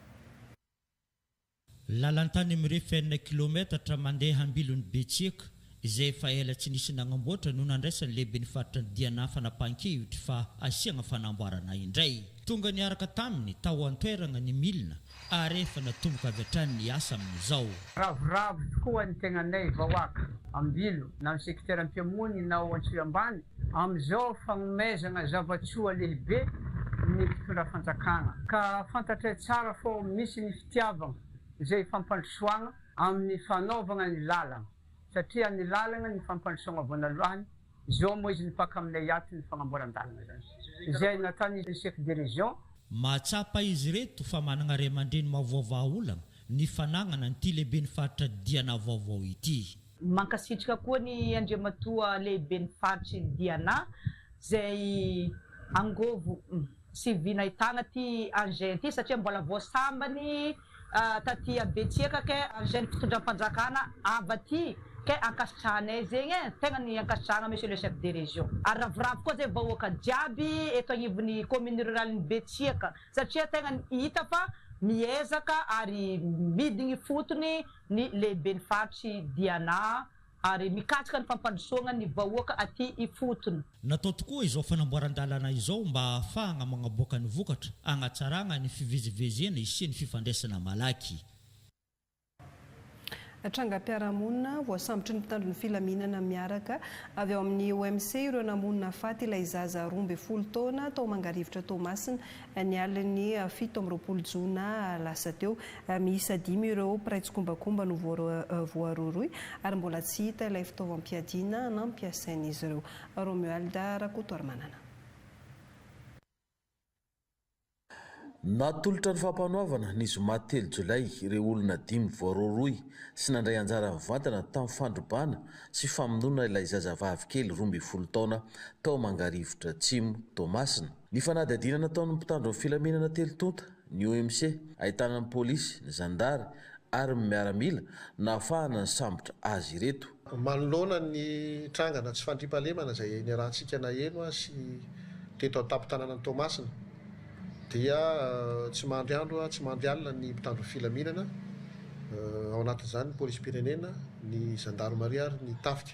Lalantany mirefy enina kilaometatra mandeha am-bilon'i Betsiaka, izay efa ela tsy nisy nagnamboatra no nandraisan'ny lehiben'ny faritra ny diana fanapahan-kevitra fa hasiagna fanamboarana indray. Tonga niaraka taminy tao an-toeragna ny milina ary efa natomboka avy hatrany ny asa amin'izao. Ravoravo tokoa ny tegnanay vahoaka, am-bilo na ny sekiteram-pihamonina ao Antsohiambany amin'izao fagnomezana zava-tsoa lehibe ny mpitondra fanjakana ka fantatray tsara fô misy ny fitiavagna izay ifampandrosoagna amin'ny fanaovagna ny lalagna satria ny lalagna ny ifampandrosoagna voanalohany izao moa izy mipaka aminay ato ny fagnamboaran-dalagna zany izay nataon'izy chef de région Mahatsapa izy ireto fa managna ray aman-dreny mahaovaova aolagna ny fanagnana an'ity lehiben'ny faritra Diana vaovao ity. Mankasitrka koa ny Andriamatoa Lehiben'ny Faritry Diana izay angovo sy vina ahitana ity engin ity satria mbola vao sambany taty Betsiaka kay engin fitondram-panjakana ava aty kay ankasitrahanay zegny e, tegna ny ankasitrahagna Monsieur le Chef de Région. Ary ravoravo koa zay vahoaka jiaby eto agnivon'ny Commune Ruralen'i Betsiaka satria tegna hita fa miezaka ary midigny fotony ny lehiben'ny faritr'i Diana ary mikatsaka ny fampandrosoagna ny vahoaka aty ifotony. Natao tokoa izao fanamboaran-dalana izao mba hahafahagna magnaboaka ny vokatra, hagnatsaragna ny fivezivezena hisian'ny fifandraisana malaky. Trangam-piarahamonina, Voasambotry ny mpitandro ny filaminana miaraka avy ao amin'ny OMC ireo namono nahafaty ilay zaza roa ambin'ny folo taona tao Mangarivotra Toamasina, Ny alin'ny fito amby roapolo jona lasa teo, miisa dimy ireo mpiray tsikombakomba no voarohirohy ary mbola tsy hita ilay fitaovam-piadiana nampiasain'izy ireo. Romuald Rakotoarimanana. Natolotra ny fampanoavana ny zoma telo jolay ireo olona dimy voarohirohy sy nandray anjara mivantana tamin'ny fandrobana sy famonoana ilay zazavavy kely roa ambin'ny folo taona tao Mangarivotra Atsimo, Toamasina. Ny fanadihadiana nataon'ny mpitandro ny filaminana telo tonta ny OMC, ahitana ny polisy, ny zandary ary ny miaramila, nahafahana nisambotra azy ireto. Manoloana ny trangana tsy fandriampahalemana izay niarahantsika naheno sy teto an-tampon-tanànan'i Toamasina dia tsy mandry andro tsy mandry alina ny mpitandro ny filaminana, ao anatin'izany ny polisim-pirenena, ny zandarimaria ary ny tafika.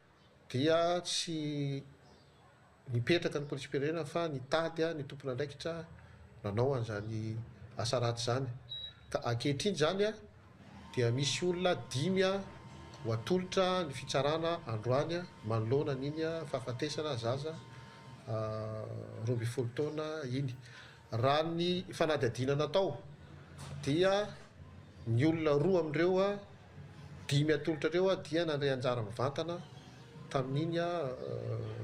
dia tsy nipetraka ny polisim-pirenena fa nitady ny tompon'andraikitra nanao an'izany asa ratsy izany ka ankehitriny izany dia misy olona dimy ho atolotra ny fitsarana androany manoloana an'iny fahafatesana zaza roa ambin'ny folo taona iny. Raha ny fanadihadiana natao dia ny olona roa amin'ireo Dimy atolotra ireo dia nandray anjara mivantana tamin'iny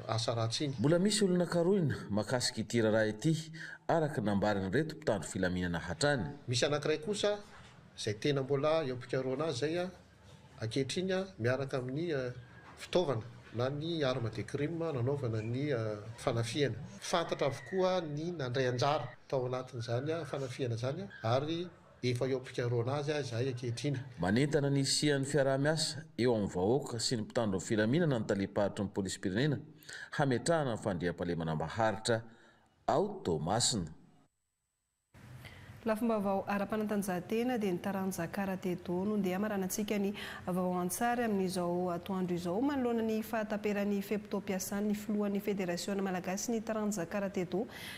asa ratsy iny. Mbola misy olona karohina makasika ity raharaha ity araka ny nambarin'ireto mpitandro filaminana hatrany. Misy anankiray kosa izay tena mbola eo am-pikarohana azy izay ankehitriny miaraka amin'ny fitaovana na ny arme de crime nanaovana ny fanafihana. Fantatra avokoa ny nandray anjara tao anatin'izany fanafihana izany ary Efa eo am-pikarohana azy aho izahay ankehitriny. Manentana ny hisian'ny fiaraha-miasa eo amin'ny vahoaka sy ny mpitandro ny filaminana ny talem-paritry ny polisim-pirenena hametrahana ny fandriampahalemana maharitra ao Toamasina. Lafim-baovao ara-panatanjahantena dia ny taranja karate do no ndeha hamaranantsika ny vaovao an-tsary amin'izao atoandro izao manoloana ny fahataperan'ny fe-potoam-piasan'ny filohan'ny federasiona malagasin'ny taranja karate do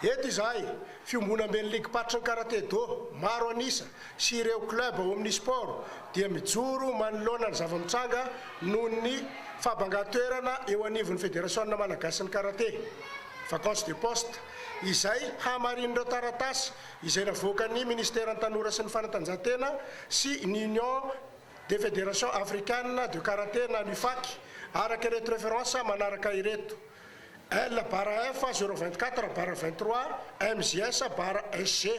Eto izahay, fiombonamben'ny ligim-paritry ny karate do maro an'isa sy ireo club ao amin'ny sport dia mijoro manoloana ny zava-mitranga noho ny fahabangan-toerana eo anivon'ny Federasiona malagasin'ny karate, vacance de poste, izay hamarinin'ireo taratasy izay navoakan'ny Ministeran'ny Tanora sy ny Fanatanjahantena sy ny Union des Federations Africaines de Karate na ny UFAC, araka ireto references manaraka ireto. L barra F zéro vingt quatre barra vingt trois MJS barra SG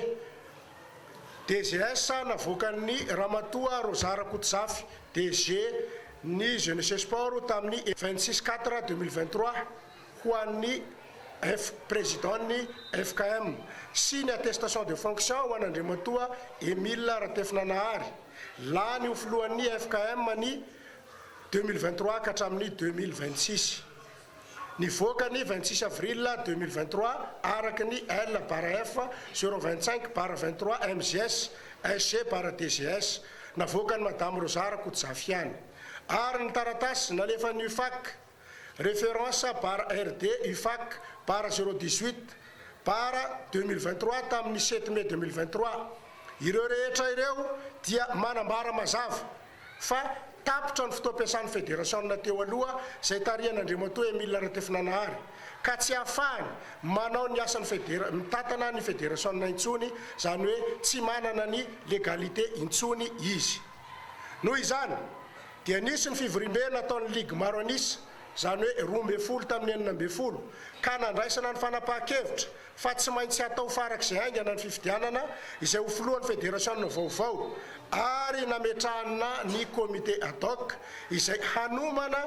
DGS navoakan'ny Ramatoa Rosa Rakotozafy, DG, ny Jeunesse et Sport tamin'ny vingt six quatre deux mille vingt trois ho an'ny F Président-n'ny FKM sy ny attestation de fonction ho an'Andriamatoa Emile Ratefinanahary, lany ho Filohan'ny FKM ny Deux mille vingt trois ka hatramin'ny deux mille vingt six. Nivoaka ny vingt six avril deux mille vingt trois araka ny L barra F zéro vingt cinq barra vingt trois MGS, SG barra DGS, navoakan'i Madame Rosa Rakotozafiana. Ary ny taratasy nalefan'ny UFAC. Référence barre RD UFAC barre zéro dix huit barre deux mille vingt trois tamin'ny sept mai deux mille vingt trois. Ireo rehetra ireo dia manambara mazava fa tapitra ny fotoam-piasan'ny federasiona teo aloha izay tarihan'Andriamatoa Emile Ratefinanahary ka tsy ahafahany manao ny asan'ny federa mitantana ny federasiona intsony, izany hoe tsy manana ny légalité intsony izy. Noho izany dia nisy ny fivoriambe nataon'ny ligy maro an'isa, izany hoe roa ambin'ny folo tamin'ny enina ambin'ny folo, ka nandraisana ny fanapahan-kevitra fa tsy maintsy hatao farak'izay haingana ny fifidianana izay ho filohan'ny federasiona vaovao ary nametrahana ny comité ad hoc izay hanomana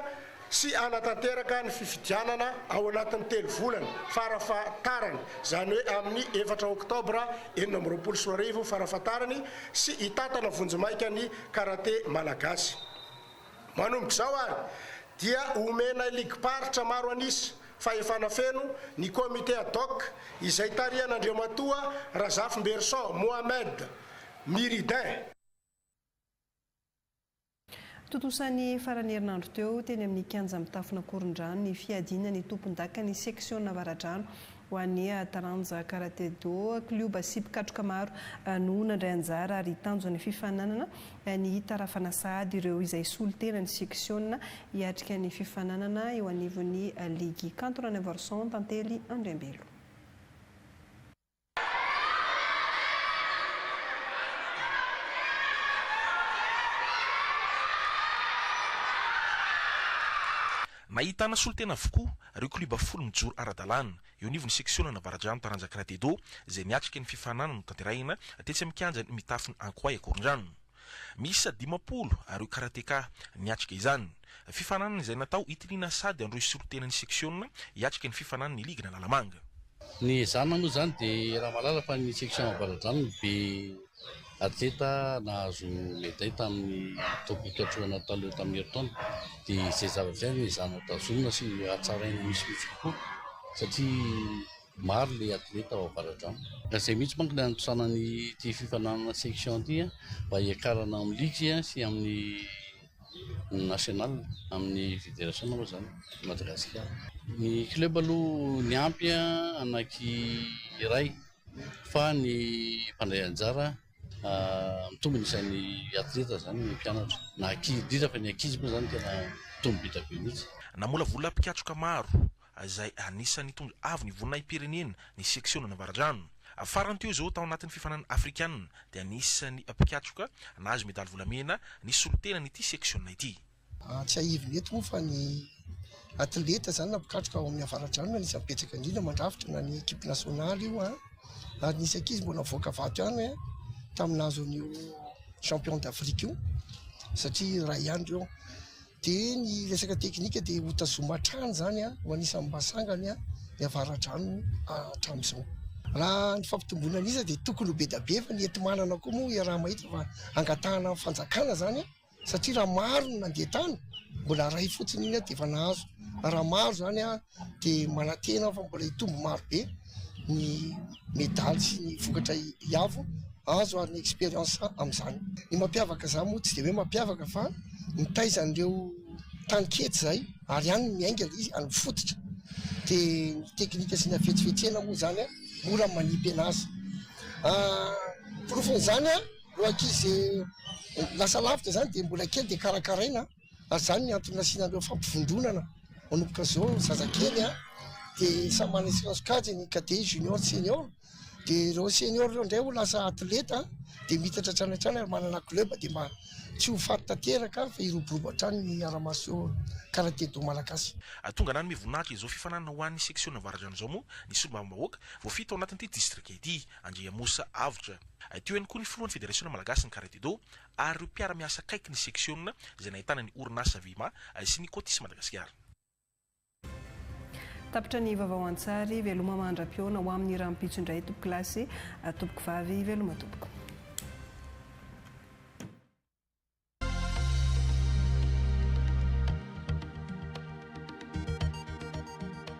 sy hanatanteraka ny fifidianana ao anatin'ny telo volana farafahatarany, izany hoe amin'ny efatra oktobra enina amby roapolo sy roa arivo farafahatarany, sy hitantana vonjimaika ny karate malagasy. Manomboka izao ary dia homenay ligim-paritra maro an'isa fahefana feno ny Comité ad hoc izay tarihan'Andriamatoa Razafinberison Mohamed Miridin, Tontosa ny faran'ny herinandro teo, teny amin'ny kianja mitafon'Ankorondrano, ny fiadiana ny tompondakan'ny seksionan'Avaradrano ho an'ny taranja karate-do. Klioba sy mpikatroka maro no nandray anjara ary tanjon'ny fifaninanana ny hitarafana sahady ireo izay solontenan'ny seksiona hiatrika ny fifaninanana eo anivon'ny ligy kantonan'i Anvarison, Tantely Andriambelo. Nahitana solontena avokoa ireo klioba folo mijoro ara-dalàna, eo anivon'ny seksionana Avaradrano Taranja Cratedo, izay miatrika ny fifaninanana notanterahina tetsy amin'ny kianjan'ny Mitafin'i Ankoay Ankorondrano. Miisa dimampolo ireo karateka niatrika izany. Fifaninanana izay natao hitiliana sady handrohy solontena ny seksiona hiatrika ny fifaninanana ny ligina Lalamanga. Ny hezahana moa izany dia raha mahalala fa ny seksiona Ambaradrano no be atleta nahazo meday tamin'ny toby fiatrohana taloha tamin'ny herintaona dia izay zavatra izay no ezahana tazomina sy hatsaraina misimisy kokoa satria Maro ilay atleta ao Avaradrano. Ka izay mihitsy manko no anatosana an'ity fifaninanana section ity mba hiakarana amin'ny ligue sy amin'ny national, amin'ny federation moa izany eto Madagasikara. Ny club aloha niampy anaky iray fa ny mpandray anjara mitombina isan'ny atleta izany ny mpianatra na ankizy indrindra fa ny ankizy moa izany tena mitombo be dia be mihitsy. Namolavola mpikatroka maro izay anisan'ny nitondra avo ny voninahi-pirenena ny seksiona Navaradrano. Farany teo izao tao anatin'ny fifaninanana afrikanina dia anisan'ny mpikatroka nahazo medaly volamena ny solontenan'ity seksiona ity. Tsiahivina eto moa fa ny atleta izany na mpikatroka ao amin'ny Avaradrano no anisan'ny betsaka indrindra mandrafitra na ny ekipe nasionaly io ary nisy ankizy mbola nivoaka vato ihany tamin'ny nahazo an'io champion d'Afrique io satria iray ihany ireo. Dia ny resaka teknika dia hotazomina hatrany izany ho anisan'ny mba sangany ny avaradrano hatramin'izao. Raha ny fampitomboana ny isa dia tokony ho be dia be fa ny enti-manana koa moa iaraha-mahita fa angatahana amin'ny fanjakana izany satria raha maro ny nandeha tany mbola iray fotsiny iny dia efa nahazo, raha maro izany dia manantena aho fa mbola hitombo maro be ny medaly sy ny vokatra hiavo azo ary ny experience amin'izany. Ny mampiavaka izany moa tsy dia hoe mampiavaka fa mitaiza an'ireo tany kely izay ary any no miainga ilay izy, any amin'ny fototra. Dia ny teknika sy ny hafetsifetsena moa izany mora ny manipy an'azy. Porofon'izany ireo ankizy lasa lavitra izany dia mbola kely dia karakaraina. ary izany no antony nasiana an'ireo fampivondronana manomboka izao ny zazakely dia samy manana ny sirazy sokajiny ny cadet, junior, senior dia ireo senior ireo indray ho lasa athlete dia miitatra hatrany hatrany ary manana club dia mba tsy ho faty tanteraka fa hiroborobo hatrany ny aramaso karaté do malagasy. Atongana hanome voninahitra izao fifaninanana ho an'ny seksiona Avaradrano izao moa ny solombavambahoaka voafidy tao anatin'ity distrika ity, Andriamosa Avotra. Teo ihany koa ny filohan'ny federasiona malagasy ny karaté do, ary ireo mpiara-miasa akaiky ny seksiona izay nahitana ny orinasa Vima sy ny Cotis Madagasikara. Tapitra ny vaovao an-tsary, Veloma mandra-pihaona ho amin'ny rahampitso indray tompoko lahy sy tompoko vavy, veloma tompoko.